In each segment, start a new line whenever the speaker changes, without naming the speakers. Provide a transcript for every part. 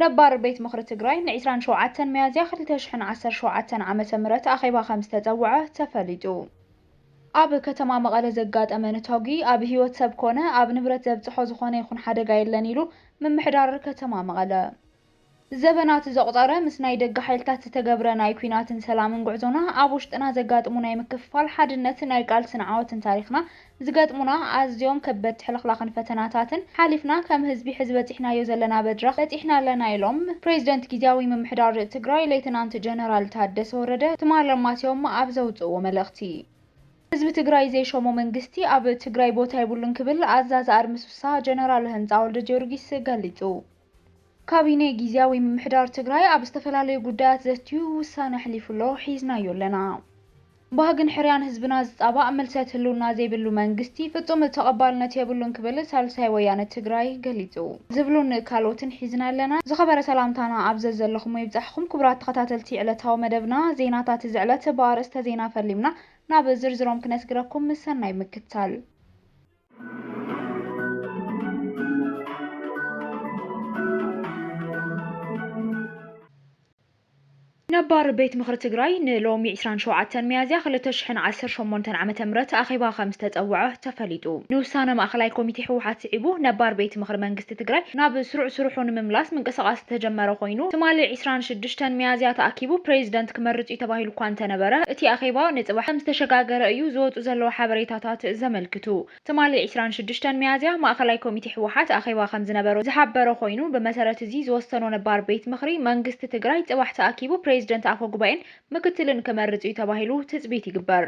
ነባር ቤት ምኽሪ ትግራይ ን ዕስራን ሸውዓተን ሚያዝያ ክልተ ሽሕን ዓሰርተ ሸውዓተን ዓመተ ምህረት ኣኼባ ከምዝተፀውዐ ተፈሊጡ። ኣብ ከተማ መቐለ ዘጋጠመ ነታጒ ኣብ ህይወት ሰብ ኮነ ኣብ ንብረት ዘብፅሖ ዝኾነ ይኹን ሓደጋ የለን ኢሉ ምምሕዳር ከተማ መቐለ። ዘበናት ዘቑፀረ ምስ ናይ ደገ ሓይልታት ዝተገብረ ናይ ኲናትን ሰላምን ጉዕዞና ኣብ ውሽጥና ዘጋጥሙ ናይ ምክፍፋል፣ ሓድነት፣ ናይ ቃልስን ዓወትን ታሪኽና ዝገጥሙና ኣዝዮም ከበድቲ ሕልኽላኽን ፈተናታትን ሓሊፍና ከም ህዝቢ ሕዚ በፂሕናዮ ዘለና በድራኽ በፂሕና ኣለና ኢሎም ፕሬዚደንት ጊዚያዊ ምምሕዳር ትግራይ ሌተናንት ጀነራል ታደሰ ወረደ ትማል ኣማስዮም ኣብ ዘውፅእዎ መልእኽቲ። ህዝቢ ትግራይ ዘይሾሞ መንግስቲ ኣብ ትግራይ ቦታ የብሉን ክብል ኣዛዚ ኣድምስሳ ጀነራል ህንፃ ወልደጊዮርጊስ ገሊፁ። ካቢኔ ጊዚያዊ ምምሕዳር ትግራይ ኣብ ዝተፈላለዩ ጉዳያት ዘትዩ ውሳነ ኣሕሊፉ'ሎ፣ ሒዝናዮ ኣለና። ባህግን ሕርያን ህዝብና ዝፃባእ ምልሰት ህልውና ዘይብሉ መንግስቲ ፍፁም ተቐባልነት የብሉን ክብል ሳልሳይ ወያነ ትግራይ ገሊፁ። ዝብሉን ካልኦትን ሒዝና ኣለና። ዝኸበረ ሰላምታና ኣብ ዘዘለኹሞ ይብፃሕኹም ክቡራት ተኸታተልቲ ዕለታዊ መደብና ዜናታት እዚ ዕለት ብኣርእስተ ዜና ፈሊምና ናብ ዝርዝሮም ክነስግረኩም ሰናይ ምክትታል። ነባር ቤት ምኽሪ ትግራይ ንሎሚ ዕስራን ሸውዓተን ሚያዝያ ክልተ ሽሕን ዓሰርተ ሸሞንተን ዓመተ ምህረት ኣኼባ ከምዝተፀወዐ ተፈሊጡ። ንውሳነ ማእኸላይ ኮሚቴ ህወሓት ስዒቡ ነባር ቤት ምኽሪ መንግስቲ መንግስቲ ትግራይ ናብ ስሩዕ ስርሑ ንምምላስ ምንቅስቓስ ዝተጀመረ ኮይኑ፣ ትማሊ ዕስራን ሽዱሽተን ሚያዝያ ተኣኪቡ ፕሬዚደንት ክመርጽ'ዩ ተባሂሉ እኳ እንተነበረ፣ እቲ ኣኼባ ንጽባሕ ከምዝተሸጋገረ እዩ ዝወጹ ዘለዉ ሓበሬታታት ዘመልክቱ። ትማሊ ዕስራን ሽዱሽተን ሚያዝያ ማእኸላይ ኮሚቴ ህወሓት ኣኼባ ከምዝነበሮ ዝሓበረ ኮይኑ፣ ብመሰረት እዚ ዝወሰኖ ነባር ቤት ምኽሪ መንግስቲ ትግራይ ጽባሕ ተኣኪቡ ፕሬዚደንት፣ ኣፈጉባኤን ምክትልን ክመርጽ'ዩ ተባሂሉ ትጽቢት ይግበር።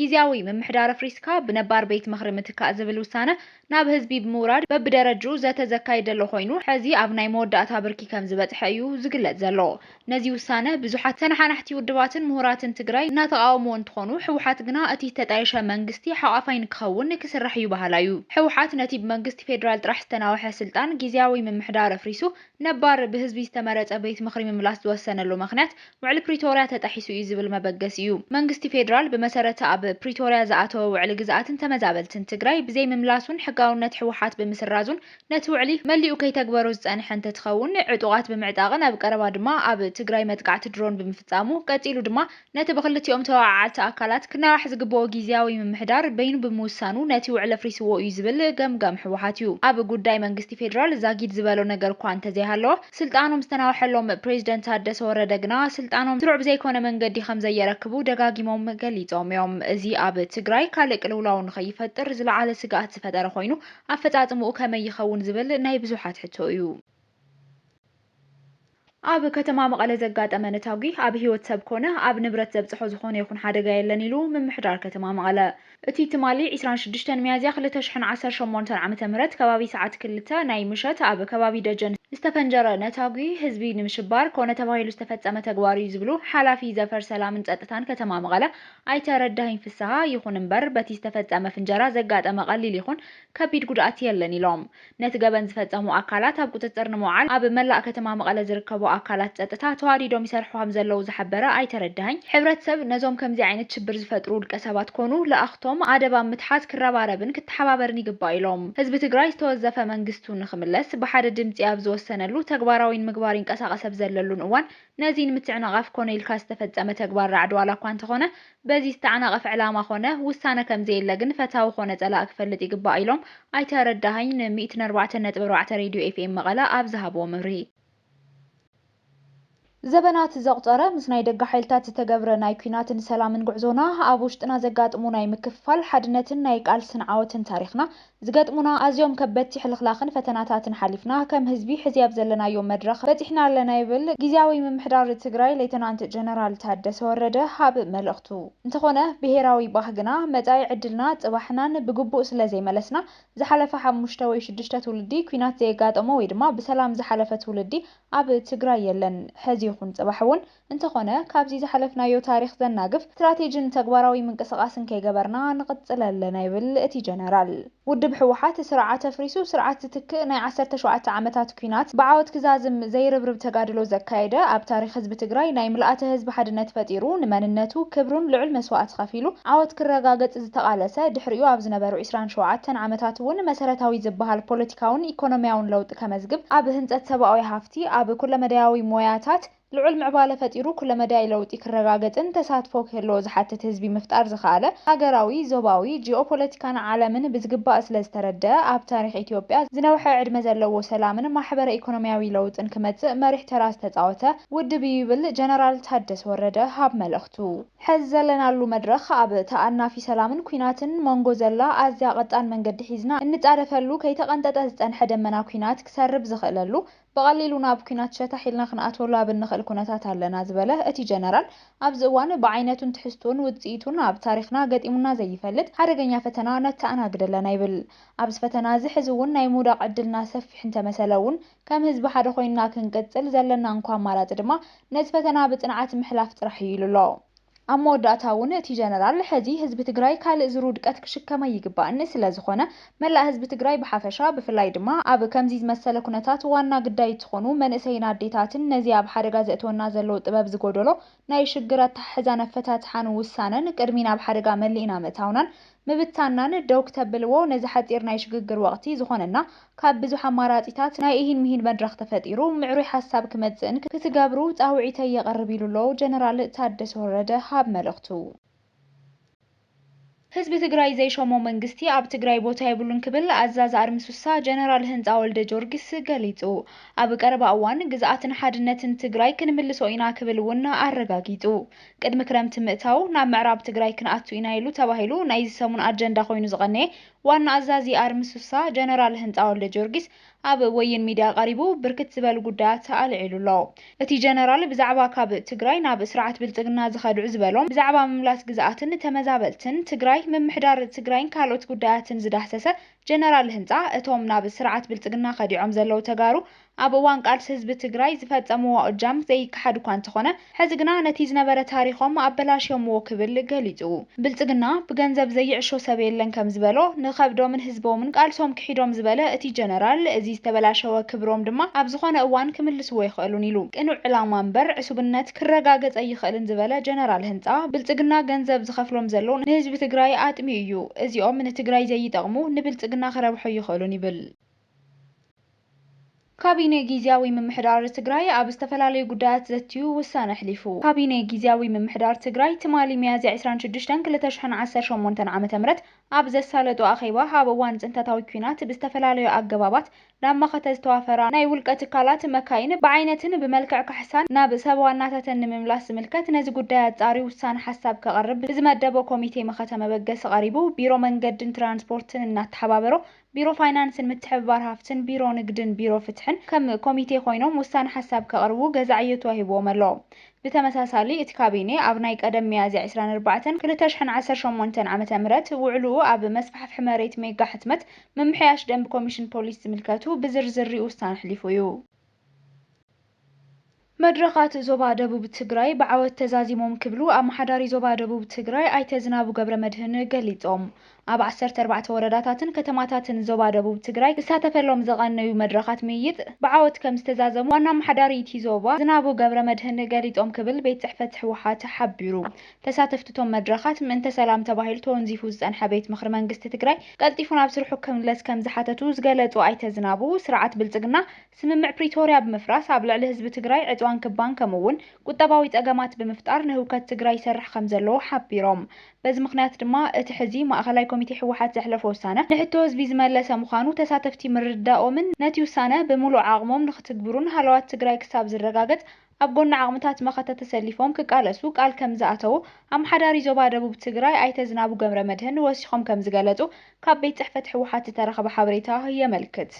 ጊዚያዊ ምምሕዳር ኣፍሪስካ ብነባር ቤት ምኽሪ ምትካእ ዝብል ውሳነ ናብ ህዝቢ ብምውራድ በብደረጅኡ ዘተ ዘካይድ ዘሎ ኮይኑ ሐዚ ኣብ ናይ መወዳእታ ብርኪ ከምዝበፅሐ እዩ ዝግለፅ ዘሎ። ነዚ ውሳነ ብዙሓት ተነሓናሕቲ ውድባትን ምሁራትን ትግራይ እናተቓወምዎ እንትኾኑ ህወሓት ግና እቲ ዝተጣየሸ መንግስቲ ሓቛፋይ ንክኸውን ክስራሕ እዩ በሃላይ እዩ። ህወሓት ነቲ ብመንግስቲ ፌዴራል ጥራሕ ዝተናውሐ ስልጣን ጊዚያዊ ምምሕዳር ኣፍሪሱ ነባር ብህዝቢ ዝተመረፀ ቤት ምኽሪ ምምላስ ዝወሰነሉ ምኽንያት ውዕሊ ፕሪቶርያ ተጣሒሱ እዩ ዝብል መበገሲ እዩ። መንግስቲ ፌዴራል ብመሰረት ኣብ ፕሪቶርያ ዝኣተወ ውዕሊ ግዝኣትን ተመዛበልትን ትግራይ ብዘይምምላሱን ሕጋውነት ህወሓት ብምስራዙን ነቲ ውዕሊ መሊኡ ከይተግበሮ ዝፀንሐ እንተትኸውን ዕጡቓት ብምዕጣቕን ኣብ ቀረባ ድማ ኣብ ትግራይ መጥቃዕቲ ድሮን ብምፍፃሙ ቀፂሉ ድማ ነቲ ብክልቲኦም ተወዓዓልቲ ኣካላት ክናዋሕ ዝግበኦ ጊዚያዊ ምምሕዳር በይኑ ብምውሳኑ ነቲ ውዕሊ ኣፍሪስዎ እዩ ዝብል ገምጋም ህወሓት እዩ። ኣብ ጉዳይ መንግስቲ ፌዴራል ዛጊድ ዝበሎ ነገር'ኳ እንተዘይሃለወ፣ ስልጣኖም ዝተናውሐሎም ፕሬዚደንት ታደሰ ወረደ ግና ስልጣኖም ስሩዕ ብዘይኮነ መንገዲ ከምዘየረክቡ ደጋጊሞም ገሊፆም እዮም። እዚ ኣብ ትግራይ ካልእ ቅልውላው ንከይፈጥር ዝለዓለ ስግኣት ዝፈጠረ ኮይኑ ኣፈፃፅምኡ ከመይ ይኸውን ዝብል ናይ ብዙሓት ሕቶ እዩ። ኣብ ከተማ መቐለ ዘጋጠመ ነታጒ ኣብ ህይወት ሰብ ኮነ ኣብ ንብረት ዘብፅሖ ዝኾነ ይኹን ሓደጋ የለን ኢሉ ምምሕዳር ከተማ መቐለ። እቲ ትማሊ ዕስራን ሽዱሽተን ሚያዝያ ክልተ ሽሕን ዓሰርተ ሸሞንተን ዓመተ ምህረት ከባቢ ሰዓት ክልተ ናይ ምሸት ኣብ ከባቢ ደጀን ዝተፈንጀረ ነታጒ ህዝቢ ንምሽባር ኮነ ተባሂሉ ዝተፈፀመ ተግባር እዩ ዝብሉ ሓላፊ ዘፈር ሰላምን ፀጥታን ከተማ መቐለ ኣይተ ረዳሂን ፍስሃ። ይኹን እምበር በቲ ዝተፈፀመ ፍንጀራ ዘጋጠመ ቀሊል ይኹን ከቢድ ጉድኣት የለን ኢሎም። ነቲ ገበን ዝፈፀሙ ኣካላት ኣብ ቁፅፅር ንምውዓል ኣብ መላእ ከተማ መቐለ ዝርከቡ ኣካላት ፀጥታ ተዋዲዶም ይሰርሑ ከምዘለዉ ዝሓበረ ኣይተ ረዳሀኝ፣ ሕብረተሰብ ነዞም ከምዚ ዓይነት ሽብር ዝፈጥሩ ውልቀ ሰባት ኮኑ ልኣኽቶም ኣደብ ኣብ ምትሓዝ ክረባረብን ክተሓባበርን ይግባእ ኢሎም። ህዝቢ ትግራይ ዝተወዘፈ መንግስቱ ንክምለስ ብሓደ ድምፂ ኣብ ዝወሰነሉ፣ ተግባራዊ ንምግባር ይንቀሳቐስ ኣብ ዘለሉን እዋን ነዚ ንምትዕንቓፍ ኮነ ኢልካ ዝተፈፀመ ተግባር ራዕዲ ዋላ እኳ እንተኾነ በዚ ዝተዓናቐፈ ዕላማ ኮነ ውሳነ ከምዘየለ ግን ፈታዊ ኮነ ፀላእ ክፈልጥ ይግባእ ኢሎም ኣይተ ረዳሀኝ ን ሚእትን ኣርባዕተን ነጥቢ ኣርባዕተ ሬድዮ ኤፍኤም መቐለ ኣብ ዝሃብዎ መብርሂ። ዘበናት ዘቑፀረ ምስ ናይ ደገ ሓይልታት ዝተገብረ ናይ ኲናትን ሰላምን ጉዕዞና፣ ኣብ ውሽጥና ዘጋጥሙ ናይ ምክፍፋል፣ ሓድነትን ናይ ቃልስን ዓወትን ታሪኽና ዝገጥሙና ኣዝዮም ከበድቲ ሕልኽላኽን ፈተናታትን ሓሊፍና ከም ህዝቢ ሕዚ ኣብ ዘለናዮ መድረኽ በፂሕና ኣለና ይብል ጊዚያዊ ምምሕዳር ትግራይ ሌተናንት ጀነራል ታደሰ ወረደ ኣብ መልእኽቱ። እንተኾነ ብሄራዊ ባህግና፣ መፃኢ ዕድልና፣ ፅባሕናን ብግቡእ ስለዘይመለስና ዝሓለፈ ሓሙሽተ ወይ ሽዱሽተ ትውልዲ ኲናት ዘየጋጠሞ ወይ ድማ ብሰላም ዝሓለፈ ትውልዲ ኣብ ትግራይ የለን። ሕዚ ይኹን ፅባሕ እውን። እንተኾነ ካብዚ ዝሓለፍናዮ ታሪኽ ዘናግፍ ስትራቴጂን ተግባራዊ ምንቅስቓስን ከይገበርና ንቕፅል ኣለና ይብል እቲ ጀነራል። ውድብ ህወሓት ስርዓት ኣፍሪሱ ስርዓት ዝትክእ ናይ ዓሰርተ ሸውዓተ ዓመታት ኲናት ብዓወት ክዛዝም ዘይርብርብ ተጋድሎ ዘካየደ ኣብ ታሪኽ ህዝቢ ትግራይ ናይ ምልኣተ ህዝቢ ሓድነት ፈጢሩ ንመንነቱ ክብሩን ልዑል መስዋእቲ ከፊሉ ዓወት ክረጋገፅ ዝተቓለሰ ድሕሪኡ ኣብ ዝነበሩ ዕስራን ሸውዓተን ዓመታት እውን መሰረታዊ ዝበሃል ፖለቲካውን ኢኮኖሚያውን ለውጢ ከመዝግብ ኣብ ህንፀት ሰብኣዊ ሃፍቲ ኣብ ኩለመዳያዊ ሞያታት ልዑል ምዕባለ ፈጢሩ ኩለመዳይ ለውጢ ክረጋገጽን ተሳትፎ ክህልዎ ዝሓትት ህዝቢ ምፍጣር ዝኸኣለ፣ ሃገራዊ፣ ዞባዊ፣ ጂኦፖለቲካን ዓለምን ብዝግባእ ስለ ዝተረደኣ፣ ኣብ ታሪኽ ኢትዮጵያ ዝነውሐ ዕድመ ዘለዎ ሰላምን ማሕበረ ኢኮኖሚያዊ ለውጥን ክመጽእ መሪሕ ተራ ዝተጻወተ ውድብ'ዩ ይብል ጀነራል ታደሰ ወረደ ኣብ መልእኽቱ። ሕዚ ዘለናሉ መድረኽ ኣብ ተኣናፊ ሰላምን ኲናትን መንጎ ዘላ ኣዝያ ቀጣን መንገዲ ሒዝና እንጻደፈሉ፣ ከይተቐንጠጠ ዝጸንሐ ደመና ኲናት ክሰርብ ዝኽእለሉ፣ ብቐሊሉ ናብ ኲናት ሸታሕ ኢልና ክንኣትወሉ ኣብ እንኽእል ኩነታት ኣለና ዝበለ እቲ ጀነራል፣ ኣብዚ እዋን ብዓይነቱን ትሕዝትኡን ውጽኢቱን ኣብ ታሪኽና ገጢሙና ዘይፈልጥ ሓደገኛ ፈተና ነተኣናግድ ኣለና ይብል። ኣብዚ ፈተና'ዚ ሕዚ'ውን ናይ ምውዳቕ ዕድልና ሰፊሕ እንተመሰለ'ውን ከም ህዝቢ ሓደ ኮይንና ክንቅጽል ዘለና'ኳ ኣማራጺ ድማ ነዚ ፈተና ብጽንዓት ምሕላፍ ጥራሕ እዩ ኢሉ'ሎ። ኣብ መወዳእታ እውን እቲ ጀነራል ሕዚ ህዝቢ ትግራይ ካልእ ዙር ውድቀት ክሽከም ኣይግባእን፣ ስለዝኾነ መላእ ህዝቢ ትግራይ ብሓፈሻ ብፍላይ ድማ ኣብ ከምዚ ዝመሰለ ኩነታት ዋና ግዳይ እትኾኑ መንእሰይን ኣዴታትን ነዚ ኣብ ሓደጋ ዘእትወና ዘሎ ጥበብ ዝጎደሎ ናይ ሽግር ኣተሓሕዛን ኣፈታትሓን ውሳነን ቅድሚ ናብ ሓደጋ መሊእና ምእታውናን ምብታንናን ደው ክተብልዎ ነዚ ሓጺር ናይ ሽግግር ወቕቲ ዝኾነና ካብ ብዙሕ ኣማራጺታት ናይ ኢሂን ምሂን መድረኽ ተፈጢሩ ምዕሩይ ሓሳብ ክመጽእን ክትገብሩ ጻውዒተይ የቕርብ ኢሉ ኣሎ ጀነራል ታደሰ ወረደ ሃብ መልእኽቱ። ህዝቢ ትግራይ ዘይሾሞ መንግስቲ ኣብ ትግራይ ቦታ የብሉን ክብል ኣዛዚ ኣርሚ ሱሳ ጀነራል ህንጻ ወልደጆርጊስ ገሊጹ። ኣብ ቀረባ እዋን ግዝኣትን ሓድነትን ትግራይ ክንምልሶ ኢና ክብል እውን ኣረጋጊጹ። ቅድሚ ክረምቲ ምእታው ናብ ምዕራብ ትግራይ ክንኣቱ ኢና ኢሉ ተባሂሉ ናይዚ ሰሙን ኣጀንዳ ኮይኑ ዝቐነየ ዋና ኣዛዚ ኣርሚ ሱሳ ጀነራል ህንፃ ወልደጀወርጊስ ኣብ ወይን ሚድያ ቀሪቡ ብርክት ዝበሉ ጉዳያት ኣልዒሉ ኣሎ። እቲ ጀነራል ብዛዕባ ካብ ትግራይ ናብ ስርዓት ብልፅግና ዝኸድዑ ዝበሎም ብዛዕባ ምምላስ ግዝኣትን ተመዛበልትን ትግራይ፣ ምምሕዳር ትግራይን ካልኦት ጉዳያትን ዝዳህሰሰ ጀነራል ህንፃ እቶም ናብ ስርዓት ብልፅግና ከዲዖም ዘለዉ ተጋሩ ኣብ እዋን ቃልሲ ህዝቢ ትግራይ ዝፈፀምዎ እጃም ዘይከሓድ እኳ እንተኾነ ሕዚ ግና ነቲ ዝነበረ ታሪኾም ኣበላሽዮምዎ ክብል ገሊፁ። ብልፅግና ብገንዘብ ዘይዕሾ ሰብ የለን ከምዝበሎ ንኸብዶምን ህዝቦምን ቃልሶም ክሒዶም ዝበለ እቲ ጀነራል እዚ ዝተበላሸወ ክብሮም ድማ ኣብ ዝኾነ እዋን ክምልስዎ ኣይኽእሉን ኢሉ። ቅኑዕ ዕላማ እምበር ዕሱብነት ክረጋገፅ ኣይኽእልን ዝበለ ጀነራል ህንፃ ብልፅግና ገንዘብ ዝኸፍሎም ዘሎ ንህዝቢ ትግራይ ኣጥሚዩ እዩ። እዚኦም ንትግራይ ዘይጠቕሙ ንብልፅግና ክረብሑ ኣይኽእሉን ይብል። ካቢኔ ጊዚያዊ ምምሕዳር ትግራይ ኣብ ዝተፈላለዩ ጉዳያት ዘትዩ ውሳነ ኣሕሊፉ። ካቢኔ ጊዚያዊ ምምሕዳር ትግራይ ትማሊ ሚያዝያ ዕስራን ሽዱሽተን ክልተ ሽሕን ዓሰርተ ሸሞንተን ዓመተ ምህረት ኣብ ዘሳለጦ ኣኼባ ኣብ እዋን ፅንተታዊ ኲናት ብዝተፈላለዩ ኣገባባት ናብ መኸተ ዝተዋፈራ ናይ ውልቀ ትካላት መካይን ብዓይነትን ብመልክዕ ካሕሳን ናብ ሰብ ዋናታተን ንምምላስ ዝምልከት ነዚ ጉዳይ ኣፃርዩ ውሳነ ሓሳብ ከቕርብ ብዝመደቦ ኮሚቴ መኸተ መበገሲ ቀሪቡ ቢሮ መንገድን ትራንስፖርትን እናተሓባበሮ ቢሮ ፋይናንስን ምትሕብባር ሃፍትን ቢሮ ንግድን ቢሮ ፍትሕን ከም ኮሚቴ ኮይኖም ውሳነ ሓሳብ ከቕርቡ ገዛዕ ዕዮ ተዋሂብዎም ኣሎ። ብተመሳሳሊ እቲ ካቢኔ ኣብ ናይ ቀደም ሚያዝያ ዕስራን ኣርባዕተን ክልተ ሽሕን ዓሰርተ ሸሞንተን ዓመተ ምህረት ውዕልኡ ኣብ መስፋሕፍሒ መሬት ሜጋ ሕትመት ምምሕያሽ ደንቢ ኮሚሽን ፖሊስ ዝምልከቱ ብዝርዝር ሪኡ ውሳነ ኣሕሊፉ እዩ። መድረኻት ዞባ ደቡብ ትግራይ ብዓወት ተዛዚሞም ክብሉ ኣመሓዳሪ ዞባ ደቡብ ትግራይ ኣይተ ዝናቡ ገብረመድህን ገሊፆም። ኣብ ዓሰርተ ኣርባዕተ ወረዳታትን ከተማታትን ዞባ ደቡብ ትግራይ ክሳተፈሎም ዝቐነዩ መድረኻት ምይይጥ ብዓወት ከምዝተዛዘሙ ዋና ኣመሓዳሪ እቲ ዞባ ዝናቡ ገብረመድህን ገሊፆም ክብል ቤት ፅሕፈት ህወሓት ሓቢሩ። ተሳተፍቲ'ቶም መድረኻት፣ ምእንተ ሰላም ተባሂሉ ተወንዚፉ ዝጸንሐ ቤት ምኽሪ መንግስቲ ትግራይ ቀልጢፉ ናብ ስርሑ ክምለስ ከምዝሓተቱ ዝገለጹ ኣይተ ዝናቡ፣ ስርዓት ብልጽግና ስምምዕ ፕሪቶርያ ብምፍራስ ኣብ ልዕሊ ህዝቢ ትግራይ ዕጽዋን ክባን ከምኡ'ውን ቁጠባዊ ጸገማት ብምፍጣር ንህውከት ትግራይ ይሰርሕ ከምዘሎ ሓቢሮም። በዚ ምኽንያት ድማ እቲ ሕዚ ማእኸላይ ኮሚቴ ህወሓት ዘሕለፎ ውሳነ ንሕቶ ህዝቢ ዝመለሰ ምዃኑ ተሳተፍቲ ምርድዳኦምን ነቲ ውሳነ ብምሉእ ዓቕሞም ንኽትግብሩን ሃለዋት ትግራይ ክሳብ ዝረጋገጽ ኣብ ጎኒ ዓቕምታት መኸተ ተሰሊፎም ክቃለሱ ቃል ከምዝኣተዉ ኣመሓዳሪ ዞባ ደቡብ ትግራይ ኣይተ ዝናቡ ገብረመድህን ወሲኾም ከምዝገለፁ ካብ ቤት ፅሕፈት ህወሓት ዝተረኸበ ሓበሬታ የመልክት።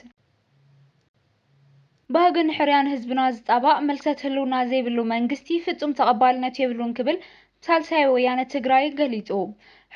ባህጊ ንሕርያን ህዝብና ዝፃባእ፣ ምልሰት ህልውና ዘይብሉ መንግስቲ ፍፁም ተቐባልነት የብሉን ክብል ሳልሳይ ወያነ ትግራይ ገሊፁ።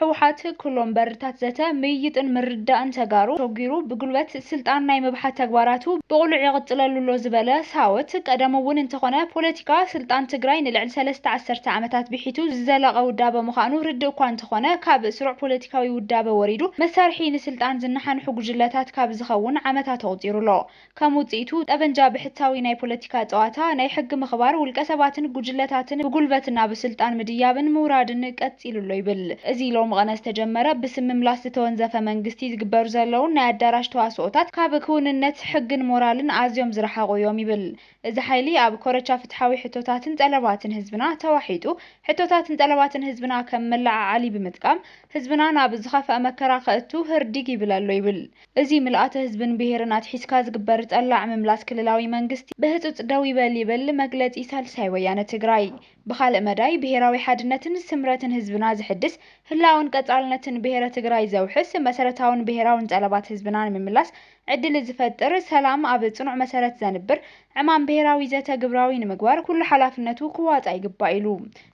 ህወሓት ኩሎም በርታት ዘተ፣ ምይይጥን ምርድዳእን ተጋሩ ሾጊሩ ብጉልበት ስልጣን ናይ ምብሓት ተግባራቱ ብቕሉዕ ይቕፅለሉ ኣሎ ዝበለ ሳወት፣ ቀደም እውን እንተኾነ ፖለቲካ ስልጣን ትግራይ ንልዕሊ ሰለስተ ዓሰርተ ዓመታት ብሒቱ ዝዘለቐ ውዳበ ምዃኑ ርድእ እኳ እንተኾነ ካብ ስሩዕ ፖለቲካዊ ውዳበ ወሪዱ መሳርሒ ንስልጣን ዝነሓንሑ ጉጅለታት ካብ ዝኸውን ዓመታት ኣቑፂሩ ኣሎ። ከም ውጽኢቱ፣ ጠበንጃ ብሕታዊ ናይ ፖለቲካ ጸዋታ፣ ናይ ሕጊ ምኽባር፣ ውልቀሰባትን ጉጅለታትን ብጉልበት ናብ ስልጣን ምድያብን ምውራድን ቀጺሉ ኣሎ ይብል። እዚ ሎምቐነ ዝተጀመረ ብስም ምምላስ ዝተወንዘፈ መንግስቲ ዝግበሩ ዘለዉን ናይ ኣዳራሽ ተዋስኦታት ካብ ክውንነት ሕግን ሞራልን ኣዝዮም ዝረሓቑ እዮም ይብል። እዚ ሓይሊ ኣብ ኮረቻ ፍትሓዊ ሕቶታትን ጠለባትን ህዝብና ተዋሒጡ ሕቶታትን ጠለባትን ህዝብና ከም መለዓዓሊ ብምጥቃም ህዝብና ናብ ዝኸፍኣ መከራ ከእቱ ህርዲግ ይብል ኣሎ ይብል። እዚ ምልኣተ ህዝብን ብሄርን ኣትሒዝካ ዝግበር ጠላዕ ምምላስ ክልላዊ መንግስቲ ብህፁፅ ደው ይበል ይብል መግለፂ ሳልሳይ ወያነ ትግራይ። ብኻልእ መዳይ ብሄራዊ ሓድነትን ስምረትን ህዝብና ዘሕድስ፣ ህላወን ቀፃልነትን ብሄረ ትግራይ ዘውሕስ፣ መሰረታውን ብሄራውን ጠለባት ህዝብና ንምምላስ ዕድል ዝፈጥር፣ ሰላም ኣብ ፅኑዕ መሰረት ዘንብር ዕማም ብሄራዊ ዘተ ግብራዊ ንምግባር ኩሉ ሓላፍነቱ ክዋፃእ ይግባእ ኢሉ።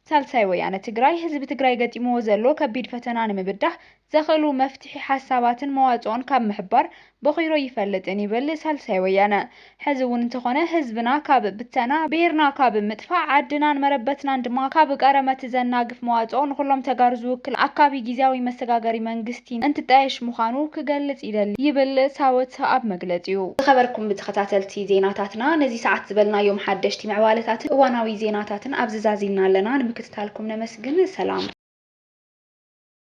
ሳልሳይ ወያነ ትግራይ ህዝቢ ትግራይ ገጢምዎ ዘሎ ከቢድ ፈተና ንምብዳህ ዘኽእሉ መፍትሒ ሓሳባትን መዋጽኦን ካብ ምሕባር ቦኺሮ ይፈልጥን ይብል ሳልሳይ ወያነ። ሕዚ እውን እንተኾነ ህዝብና ካብ ብተና፣ ብሄርና ካብ ምጥፋእ፣ ዓድናን መረበትናን ድማ ካብ ቀረመት ዘናግፍ መዋጽኦ ንኹሎም ተጋሩ ዝውክል ኣካቢ ጊዚያዊ መሰጋገሪ መንግስቲ እንትጣየሽ ምዃኑ ክገልጽ ይደሊ ይብል ሳወት ኣብ መግለጺኡ። ዝኸበርኩም ተኸታተልቲ ዜናታትና ነዚ ሰዓት ዝበልናዮም ሓደሽቲ ምዕባለታትን እዋናዊ ዜናታትን ኣብዚ ዛዚምና ኣለና። ንምክትታልኩም ነመስግን። ሰላም።